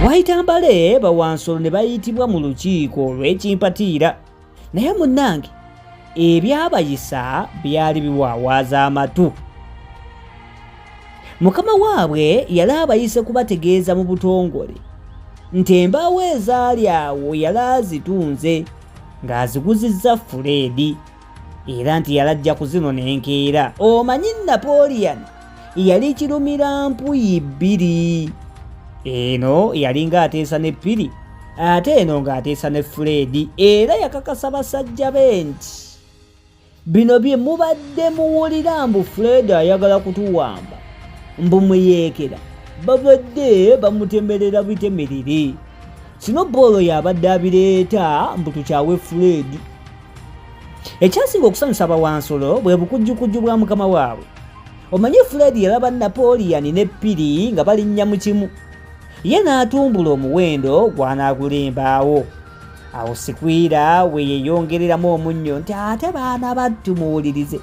waayita mbale bawansolo ne bayitibwa mu lukiiko olw'ekimpatiira naye munnange ebyabayisa byali biwaawaaza amatu mukama waabwe yali abayise kubategeeza mu butongole nti embaawo ezaali awo yali azitunze ng'aziguzizza fuleedi era nti yalajja ku zino nenkeera omanyi napoleon yali kirumira mpuyi bbiri eno yalinga ateesa ne ppiri ate eno ng'ateesa ne fuleedi era yakakasa basajja be nti bino bye mubadde muwulira mbu fuleedi ayagala kutuwamba mbu muyeekera babadde bamutemerera bitemerere sino boolo yabadde abireeta mbu tukyawe fuleedi ekyasinga okusanyusa abawansolo bwe bukujjukujju bwa mukama waabwe omanyi fred yalaba napoleon ne piri nga balinnya mu kimu ye n'atumbula omuwendo gw'anaagulimbaawo awo sikwira we yeeyongereramu omunnyo nti ate baana battu muwulirize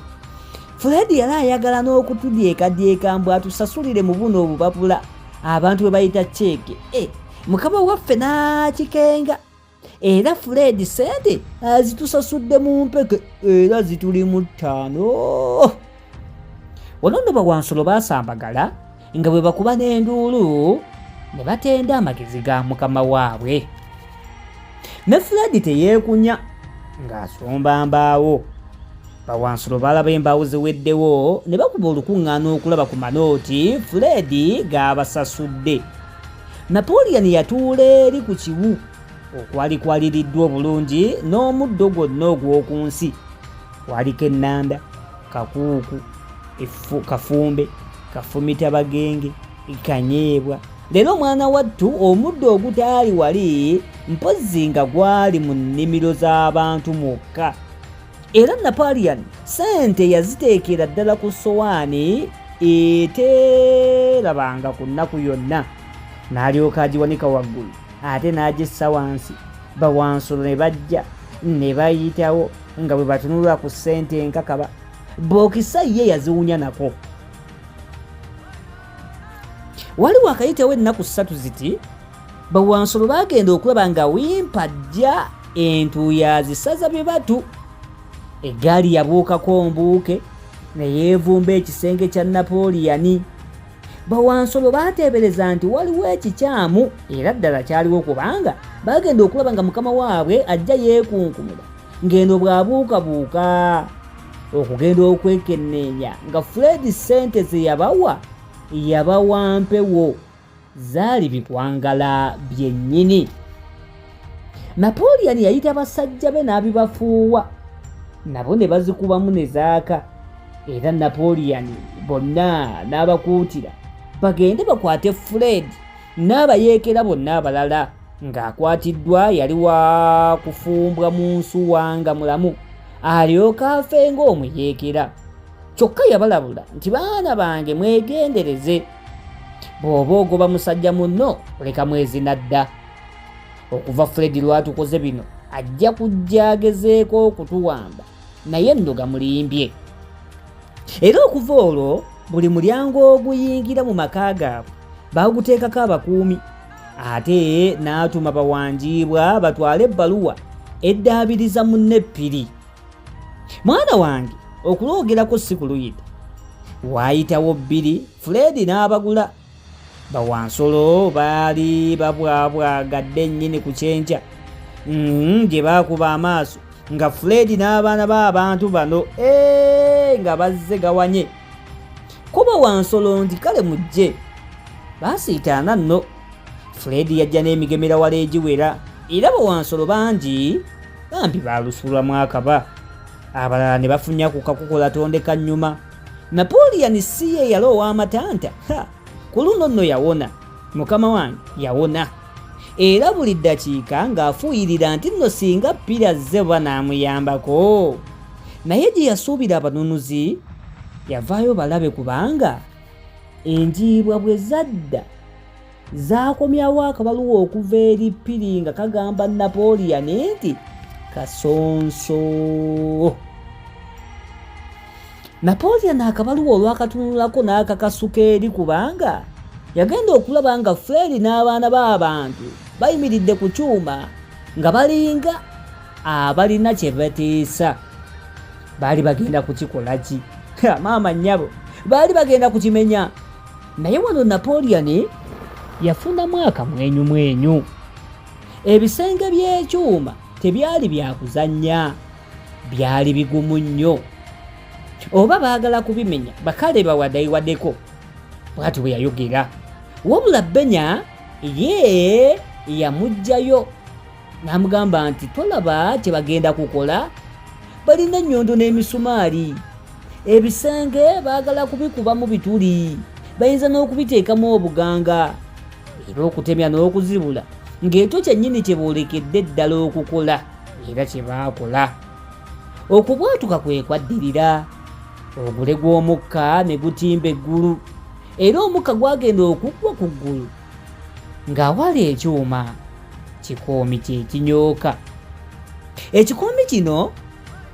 fred yali ayagala n'okutudyekadyeka mbu atusasulire mu buno obubabula abantu bwe bayita ceeke e eh, mukama waffe n'akikenga era fred sente azitusasudde mu mpeke era zituli mu ttaano wano nno bawansolo baasambagala nga bwe bakuba n'enduulu ne batenda amagezi ga mukama waabwe ne fred teyeekunya ng'asomba mbaawo bawansolo balaba embaawo ziweddewo ne bakuba olukuŋŋaana okulaba ku manooti fred gaabasasudde Napoleon yatuula eri ku kiwu okwali kwaliriddwa obulungi n'omuddo gwonna ogw'oku nsi kwaliko ennanda kakuuku kafumbe kafumita bagenge kanyeebwa leero omwana wattu omuddo ogutaali wali mpozzi nga gwali mu nnimiro z'abantu mwokka era napalian sente yaziteekera ddala ku sowaani eteerabanga ku nnaku yonna n'alyoka agiwanika waggulu ate n'agissa wansi bawansulo ne bajja ne bayitawo nga bwe batunulwa ku sente enkakaba bookisa ye yaziwunya nako waliwo akayitewo ennaku ssatu ziti Bawansolo baagenda okulaba nga wimpa ajja entuuyazi saza bye batu eggaali yabuukako mbuuke ne yeevumba ekisenge kya napooliyani bawansolo baateebereza nti waliwo ekikyamu era ddala kyaliwo kubanga baagenda okulaba nga mukama waabwe ajja yeekunkumula ng'eno bw'abuukabuuka okugenda okwekenneenya nga fred ssente ze yabawa yabawa mpewo zaali bikwangala byennyini napoleon yayita basajja be n'abibafuuwa nabo ne bazikubamu ne zaaka era napoleon bonna n'abakuutira bagende bakwate fred n'abayeekera bonna abalala ng'akwatiddwa yali wa kufumbwa mu nsuwa nga mulamu alyoka afe ng'omuyeekera kyokka yabalabula nti baana bange mwegendereze bw'oba ogoba musajja munno leka mwezi nadda okuva fred lwatukoze bino ajja kujja agezeeko okutuwamba naye nno gamulimbye era okuva olwo buli mulyango oguyingira mu maka gaabwe baaguteekako abakuumi ate n'atuma bawanjiibwa batwale ebbaluwa eddaabiriza munne ppiri mwana wange okuloogerako si kuluyita waayitawo bbiri fuleedi n'abagula bawansolo baali babwabwagadde nnyini ku kyenkya mm-hmm, gye baakuba amaaso nga fuleedi n'abaana b'abantu bano ee nga bazze gawanye kuba wansolo nti kale mujje baasiitaana nno fuleedi yajja n'emigemera wala egiwera era bawansolo bangi bambi balusulwamu akaba abalala ne bafunya ku kakukola tondeka nnyuma napoleon si ye yali ow'amatanta ku luno nno yawona mukama wange yawona era buli ddakiika ng'afuuyirira nti nno singa ppira zze oba n'amuyambako naye gye yasuubira abanunuzi yavaayo balabe kubanga enjiibwa bwe zadda zaakomyawo akabaluwa okuva eri piri nga kagamba napoleon nti kasonso napoleon akabaluwa olwakatunulako n'akakasuka eri kubanga yagenda okulaba nga fredi n'abaana b'abantu bayimiridde ku kyuma nga balinga abalina kye batiisa baali bagenda kukikola ki maama nnyabo baali bagenda kukimenya naye wano napoleon yafunamu akamwenyumwenyu ebisenge by'ekyuma tebyali byakuzannya byali bigumu nnyo oba baagala kubimenya bakale bawadaiwadeko bwati bwe yayogera wabula benya ye yamugjayo n'amugamba nti tolaba kye bagenda kukola balina ennyondo n'emisumaali ebisenge baagala kubikubamu bituli bayinza n'okubiteekamu obuganga era okutemya n'okuzibula ng'ekyo kyennyini kye boolekedde ddala okukola era kye baakola okubwatuka kwe kwaddirira ogule gw'omukka ne gutimba eggulu era omukka gwagenda okuggwa ku ggulu ng'awali ekyuma kikoomi kye kinyooka ekikoomi kino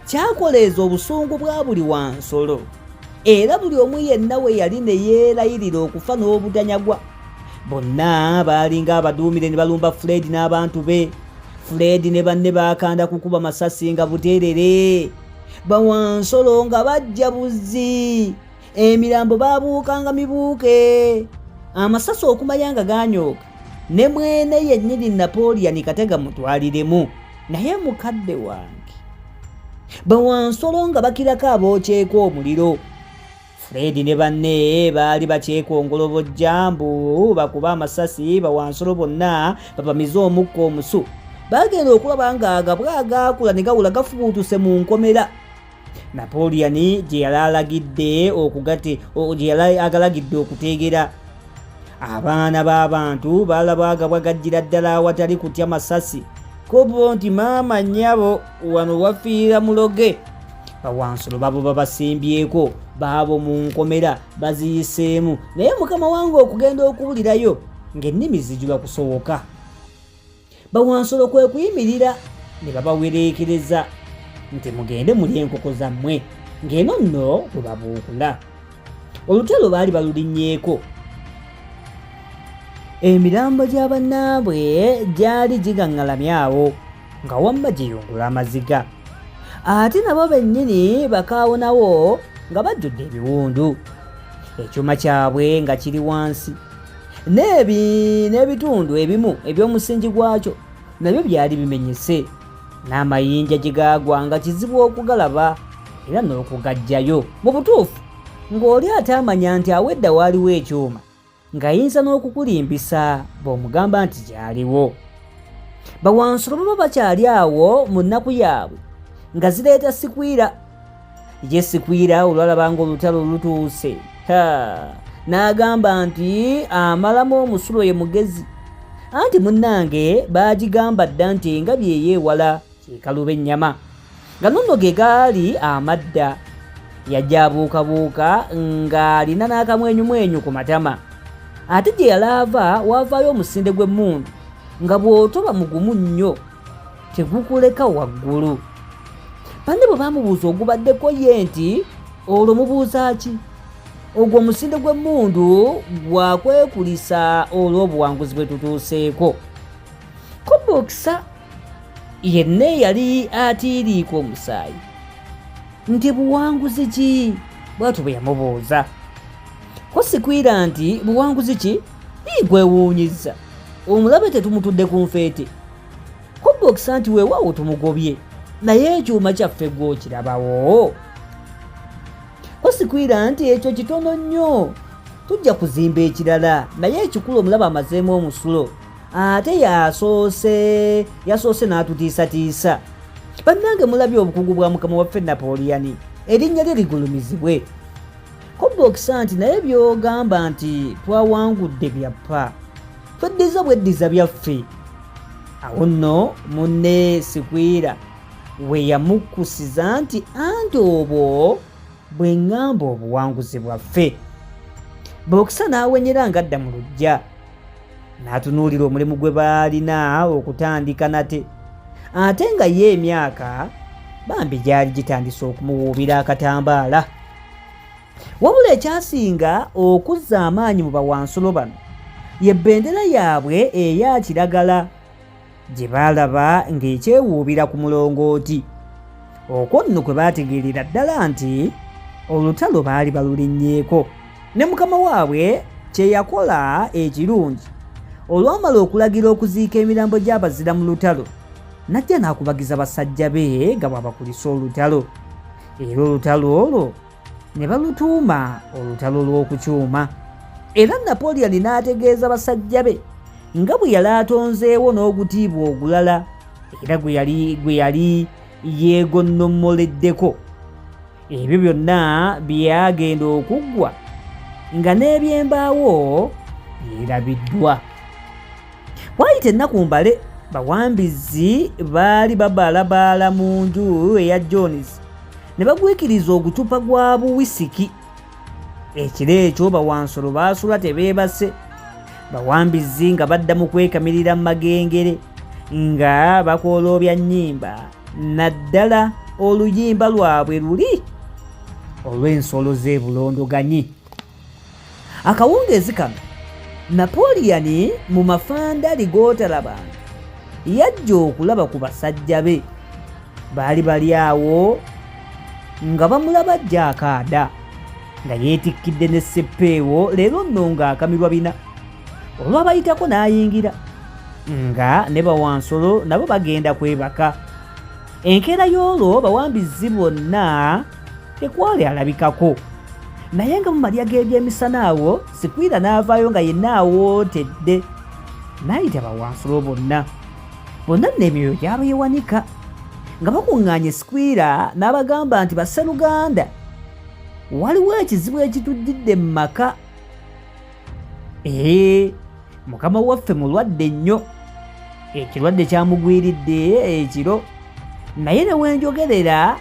kyakoleeza obusungu bwa buli wansolo era buli omu yenna we yali ne yeerayirira okufa n'obutanyagwa bonna baalinga abaduumire ne balumba fred n'abantu be fred ne banne baakanda kukuba masasi nga buteerere bawansolo nga bajja buzzi emirambo baabuukanga mibuuke amasasi okumanya nga ganyooka ne mwene yennyini napoleon katega mutwaliremu naye mukadde wange bawansolo nga bakirako abookyeko omuliro fredi ne banne baali bakyekongolobo jambu bakuba amasasi bawansolo bonna babamize omukka omusu bagenda okulaba ng'agabwa agaakula ne gawula gafubuutuse mu nkomera napoleon gye yali alagidde okugate gye yali agalagidde okuteegera abaana b'abantu baalabagabwa gajjira ddala awatali kutya masasi kubo nti maama nnyabo wano wafiira muloge bawansulo babo babasimbyeko baabo mu nkomera baziyiseemu naye mukama wange okugenda okuwulirayo ng'ennimi zijuba kusowoka bawansolo kwe kuyimirira ne babawereekereza nti mugende muli enkoko zammwe ng'eno nno bwe babuukula olutalo baali balulinnyeeko emirambo gya bannaabwe gyali gigaŋŋalamyawo nga wamma giyungula amaziga ate nabo bennyini bakaawonawo nga bajjudde ebiwundu ekyuma kyabwe nga kiri wansi n'ebi n'ebitundu ebimu eby'omusingi gwakyo nabyo byali bimenyese n'amayinja gye gaagwa nga kizibu okugalaba era n'okugajjayo mu butuufu ng'oli ataamanya nti awedda waaliwo ekyuma ng'ayinza n'okukulimbisa bw'omugamba nti gyaliwo bawansulo baba bakyali awo mu nnaku yaabwe nga zireeta sikwira Yesikwiira olwalaba ng'olutalo lutuuse n'agamba nti amalamu omusulo ye mugezi anti munnange baagigamba dda nti engabi eyo ewala kyekaluba ennyama nga nonno ge gaali amadda yajja abuukabuuka ng'alina n'akamwenyumwenyu ku matama ate gye yalaava waavaayo omusinde gw'emmundu nga bw'otoba mugumu nnyo tegukuleka waggulu banne bwe bamubuuza ogubaddeko ye nti olwo mubuuza ki ogwo omusinde gw'emmundu gwakwekulisa olw'obuwanguzi bwe tutuuseeko kobokisa yenna eyali atiiriika omusaayi nti buwanguzi ki bwatu bwe yamubuuza kosikwira nti buwanguzi ki ii gwewuunyiza omulabe tetumutudde ku nfeete kubbokisa nti weewaawo tumugobye naye ekyuma kyaffe gwokirabawo osikwira nti ekyo kitono nnyo tujja kuzimba ekirala naye ekikulu omulaba amazeemu omusulo ate yasoose yasoose n'atutiisatiisa bannange mulabye obukugu bwa mukama waffe napoleoni erinnya lye ligulumizibwe kobba okisa nti naye by'ogamba nti twawangudde byappa tweddiza obweddiza byaffe awo nno munne sikwira we yamukkusiza nti anti obwo bwe ŋŋamba obuwanguzi bwaffe bokisa n'awenyera ng'adda mu lujja n'atunuulira omulimu gwe baalina okutandika nate ate nga ye emyaka bambi gyali gitandise okumuwuubira akatambaala wabula ekyasinga okuzza amaanyi mu bawansulo bano ye bendera yaabwe eya kiragala gye baalaba ng'ekyewuubira ku mulongooti okwo nno kwe baategeerera ddala nti olutalo baali balulinnyeeko ne mukama waabwe kye yakola ekirungi olwamala okulagira okuziika emirambo gy'abazira mu lutalo najja n'akubagiza basajja be nga bwabakulisa olutalo era olutalo olwo ne balutuuma olutalo lw'okukyuma era napoleoni n'ategeeza basajja be nga bwe yali atonzeewo n'ogutiibwa ogulala era gwe yali gwe yali yeegonnomoleddeko ebyo byonna byagenda okuggwa nga n'ebyembaawo byerabiddwa Waayita ennaku mbale bawambizi baali babaalabaala mu nju eya Jones ne bagwikiriza ogucupa gwa buwisiki. Ekiro ekyo bawansolo baasula tebeebase, bawambizi nga badda mu kwekamirira mu magengere nga bakooloobya nnyimba naddala oluyimba lwabwe luli olw'ensolo z'ebulondoganyi. akawungeezi kano napoliyani mu mafandali g'otalabanga yajja okulaba ku basajja be baali bali awo nga bamulaba ajja akaada nga yeetikkidde ne seppeewo leero nno ng'akamirwa bina olwabayitako n'ayingira nga ne bawansolo nabo bagenda kwebaka enkeera y'olwo bawambizi bonna tekwali alabikako naye nga mu malya g'ebyemisana awo sikwira n'avaayo nga yenna awootedde n'ayita bawansulo bonna bonna nno emyoyo gyaba yewanika nga bakuŋŋaanye sikwira n'abagamba nti basseruganda waliwo ekizibu ekituddidde mu maka ee mukama waffe mulwadde nnyo ekirwadde kyamugwiridde ekiro naye newenjogerera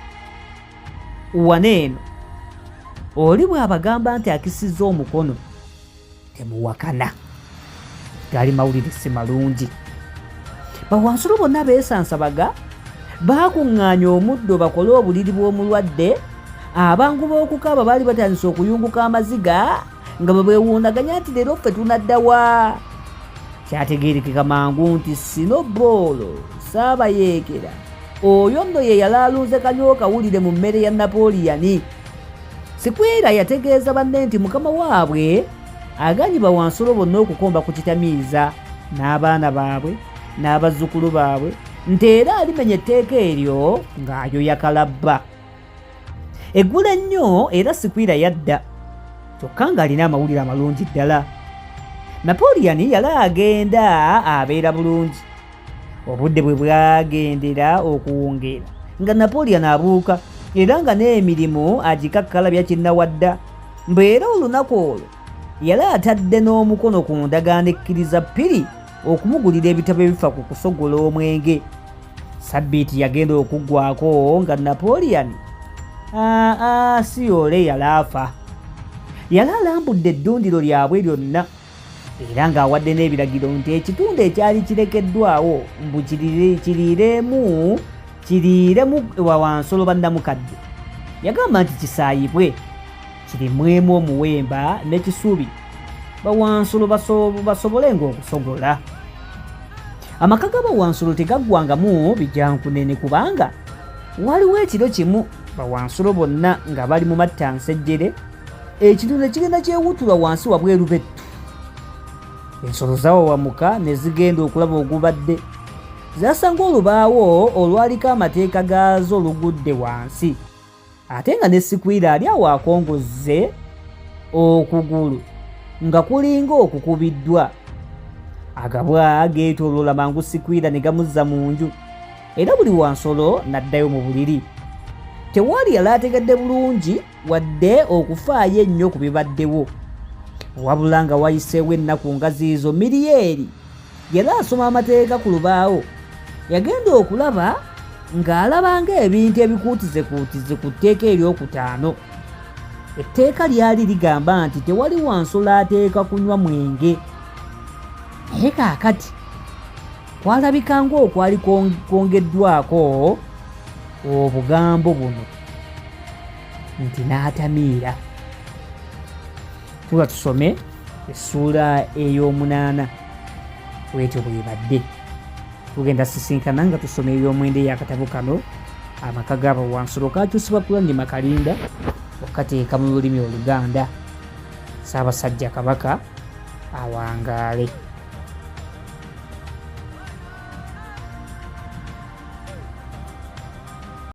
wana eno oli bwabagamba nti akisiza omukono temuwakana gali mawulire si malungi bawansulo bonna beesansabaga baakuŋŋaanya omuddo bakole obuliri bw'omulwadde abangu b'okukaaba baali batandise okuyunguka amaziga nga bwe beewuunaganya nti leero ffe tunadda wa kyategeerekeka mangu nti sino boolo saabayeekera oyo nno ye yalaalunze kanyokawulire mu mmere ya napoliyani sikwera yategeeza banne nti mukama waabwe aganye bawansolo bonna okukomba ku kitamiiza n'abaana baabwe n'abazzukulu baabwe nti era alimenya etteeka eryo ng'ayoyakalabba eggula ennyo era sikwira yadda kyokka ng'alina amawulire amalungi ddala napoleon yali agenda abeera bulungi obudde bwe bwagendera okuwungeera nga napoleon abuuka era nga n'emirimu agikakkala byakinnawadda mbeera olunaku olwo yali atadde n'omukono ku ndagaano ekkiriza ppiri okumugulira ebitabo ebifa ku kusogola omwenge sabbiiti yagenda okuggwako nga napoleon aa ah, ah, siyoole yalaafa yali alambudde eddundiro lyabwe lyonna era ng'awadde n'ebiragiro nti ekitundu ekyali kirekeddwawo mbu kiriiremu kiriiremu wawansolo bannamukadde yagamba nti kisaayibwe kirimwemu omuwemba n'ekisubi bawansulo basobole ng'okusogola amaka ga bawansulo tegaggwangamu bijankunene kubanga waliwo ekiro kimu bawansulo bonna nga bali mu matta nsejjere ekiro ne kigenda kyewutula wansi wabweru bettu ensolo zawawamuka ne zigenda okulaba ogubadde zasanga olubaawo olwaliko amateeka gaazo olugudde wansi ate nga ne sikwira ali awo akongozze okugulu nga kulinga okukubiddwa agabwa geetooloola mangu sikwira ne gamuzza mu nju era buli wansolo n'addayo mu buliri tewaali yali ategedde bulungi wadde okufaayo ennyo ku bibaddewo wabula nga wayiseewo ennaku ngaziizo miriyeri yali asoma amateeka ku lubaawo yagenda okulaba ng'alaba ng'ebintu ebikuutizekuutize ku tteeka eryokutaano etteeka lyali ligamba nti tewali wansolo ateeka kunywa mwenge naye kaakati kwalabika ng'okwali kwongeddwako obugambo buno nti n'atamiira tuba tusome essuula ey'omunaana bwetyo bwebadde tugenda sisinkana nga tusoma eby'omwenda eyakatabo kano amaka gaabo wansulo kakyusibwa kulandi makalinda okateeka mu lulimi oluganda saabasajja kabaka awangaale